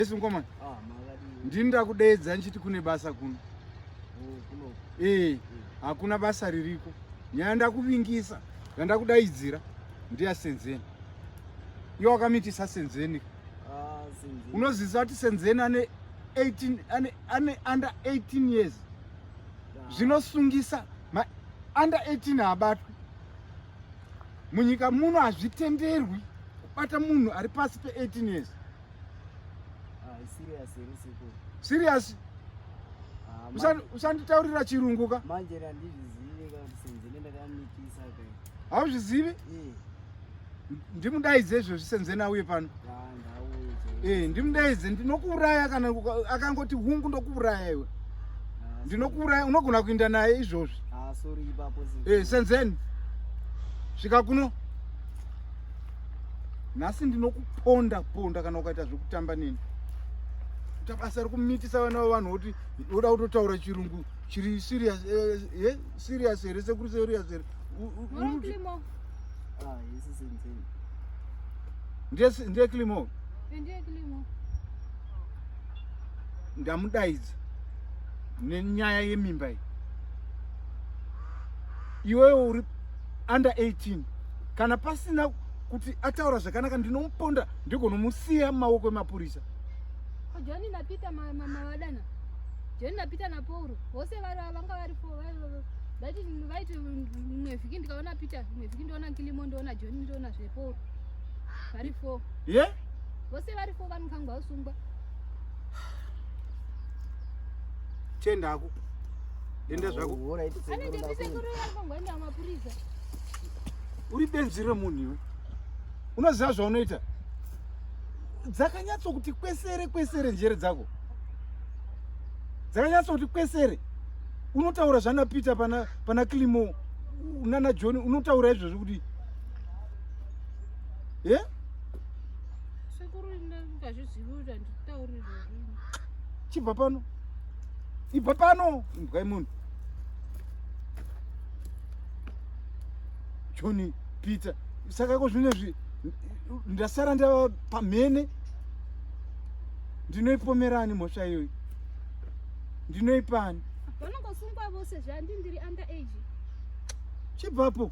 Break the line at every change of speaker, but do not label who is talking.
Yesu mkomana. Ah, Ndini ndakudeedza ndichiti kune basa kuno. Oh, eh, hakuna basa ririko. Nyaya ndakuvingisa, yandakudaidzira ndiya Senzeni. Iwe wakamitisa Senzeni. Ah, Senzeni. Unozivisa kuti Senzeni ane 18 ane ane under 18 years. Ah. Zvinosungisa ma under 18 haabatwi. Munyika muno hazvitenderwi kubata munhu ari pasi pe 18 years. Ah, serious here sekuru? Serious? Ah, Usandi usanditaurira chirungu ka? Manje randizvizive
ka kusenze nendakamitisa ka. Hauzvizivi? Eh.
Ndimudaidze izvo zvisenze nauye pano. Ah, ndauye. Eh, ndimudaidze ndinokuuraya kana akangoti hungu ndokuuraya iwe. Ah, ndinokuuraya unogona kuinda naye izvozvi. Ah, sorry ipapo.
Eh, senzeni.
Svika kuno. nhasi ndinokuponda ponda kana ukaita zvekutamba neni kuita basa rekumitisa vana vevanhu woti woda kutotaura chirungu chiri serious eh, eh, serious here sekuri serious here
ah,
ndiye climo ndamudaidza nenyaya yemimba iyi iwewe uri under 18 kana pasina kuti ataura zvakanaka ndinomuponda ndigonomusiya mumaoko emapurisa joni
napita mavadana joni napita napauro vose vari vanga vari fo vaiti vaiti imwe vhiki ndikaona peter imwe vhiki ndoona nkilimo ndoona joni ndoona zvepo vari fo ye
vose vari fo
vanokangwa usungwa
tiendako Enda zvako.
Hora iti sekuru. Anenge iti sekuru
ari pangoenda mapurisa. Uri benzi remunhu iwe. Unoziva zvaunoita? Dzakanyatso kuti kwesere kwesere njere dzako. Dzakanyatso kuti kwesere. Unotaura zvana Peter pana pana Klimo nana John unotaura izvozvo kuti Eh? Yeah?
Sekuru ndazviziva kuti anditauri izvozvo. Chibva pano.
ibva pano imbwa yemunhu joni peter saka ko zvino zvi ndasara ndava pamhene ndinoipomerani mhosva iyoyi
ndinoipani vanongosungwa
vose zvandi
ndiri under age chibvapo